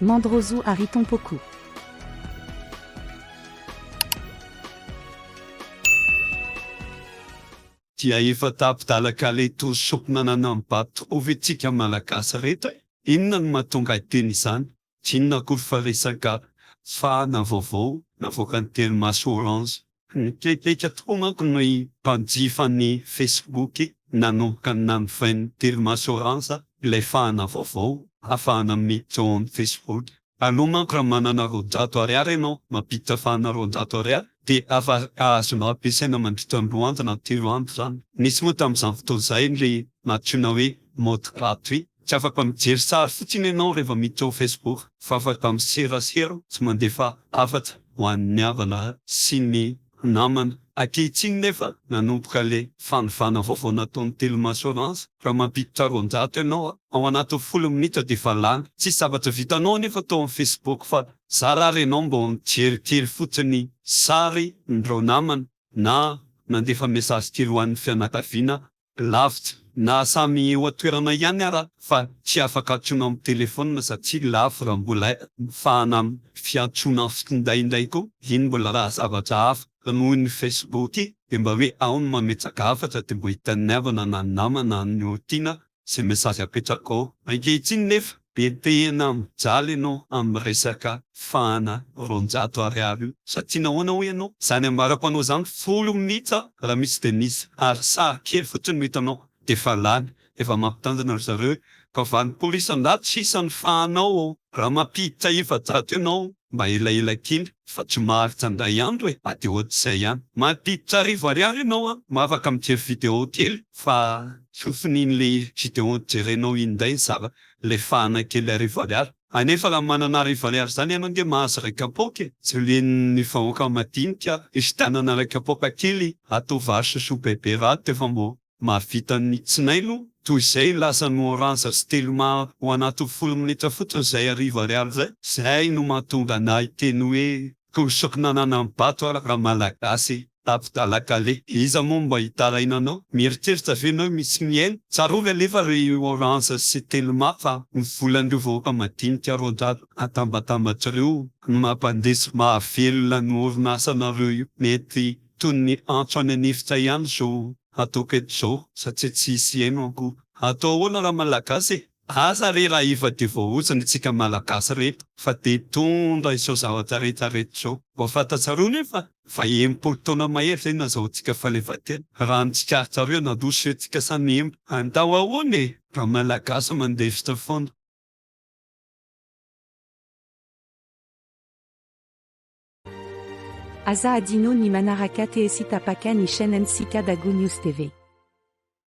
Mandroso àry tompoko. Dia efa tapi-dalaka le tour soup nanana ny bato ho vitsika malagasy reto e! Inona no mahatonga hiteny izany? Tsy inona akory fa resaka fahana vaovao navoakan'ny telo maso orange. Nitsetsetra tokoa manko ny mpanjifa ny Facebook nanomboka nanovain'ny Telma Assurance ilay fahana vaovao afahana miditra ao amin'ny Facebook. Aloha manko raha manana roanjato ariary ianao mampiditra fahana roanjato ariary dia afaka azonao ampiasaina mandritra ny roa andro na telo andro izany. Nisy moa tamin'izany fotoana izay ilay nantsoina hoe mode gratuit. Tsy afaka mijery sary fotsiny ianao rehefa miditra ao Facebook fa afaka miserasera sy mandefa hafatra ho an'ny havana sy ny namana. Ankehitriny nefa nanomboka ilay fanovana vaovao nataon'ny Telma Assurance, raha mampiditra roanjato ianao ao anatin'ny folo minitra dia efa lany. Tsisy zavatra vitanao anefa tao amin'ny Facebook fa zara ary ianao mba mijery kely fotsiny sary n'ireo namana na nandefa mesazy kely ho an'ny fianakaviana Lavitra, na samy eo an-toerana ihany ara fa tsy afaka antsoina amin'ny telefaonina satria lafo raha mbola mifahana amin'ny fiantsoana finday indray koa, iny mbola raha zavatra hafa, fa noho ny Facebook dia mba hoe ao no mametraka hafatra dia mba hitan'ny havana na ny namana na ny tiana izay message apetrako ao. Ankehitriny nefa De tena mijaly ianao amin'ny resaka fahana roanjato ariary io sa tiana ahoana hoy ianao? Zany ambara-panao zany folo minutes a! Raha misy de misy ary sary kely fotsiny no hitanao defa lany efa mampitandrina ry zareo e! Fa vanimpoly isan-jato sisa ny fahanao raha mampiditra efajato ianao Mba elaela kely fa tsy maharitra indray andro e! Ady ohatr'izay ihany. Mampiditra arivo ariary ianao an! Mba afaka mijery vidéo kely fa tsy finian'le vidéo jerenao iny indray za le fahana kely arivo ariary. Anefa raha manana arivo ariary zany ianao nge mahazo iray kapoaka e! Julienne vahoaka madinika, fifidianana iray kapoaka kely atao vary sosoa bebe raha to efa mbo Mahavita ny tsinailo toy izay lasa ny oranza sy telma ho anatin'ny folo minitra fotsiny izay hariva ariary izay. Izay no mahatonga anah hiteny hoe toy soky nananan'ny bato aho ra malagasy tato dala kale. Iza moa no mba hitaraina anao? Mieritreritra ve enao hoe misy mihaino? Tsarovy anefa ry oranza sy telma fa ny volan'ireo vahoaka madinika roadrado atambatambatr'ireo no mampandeha sy mahavelona ny orinasanareo io. Mety Toy ny antso any an'efitra ihany izao ataoko eto izao satria tsy hisy heno akory. Atao ahoana raha Malagasy e? Aza re raha efa dia voaozona isika Malagasy reto fa dia hitondra izao zavatra rehetra reto izao. Mba fantatsareo anefa fa enimpolo taona mahery izay nazahoantsika fahaleovantena. Raha ny tsikaritrareo nandroso eto isika samy niempo. Andao ahoana e? Raha Malagasy mandefitra foana. Aza adino ny manaraka TSy tapaka ny chaine ntsika Dago News TV.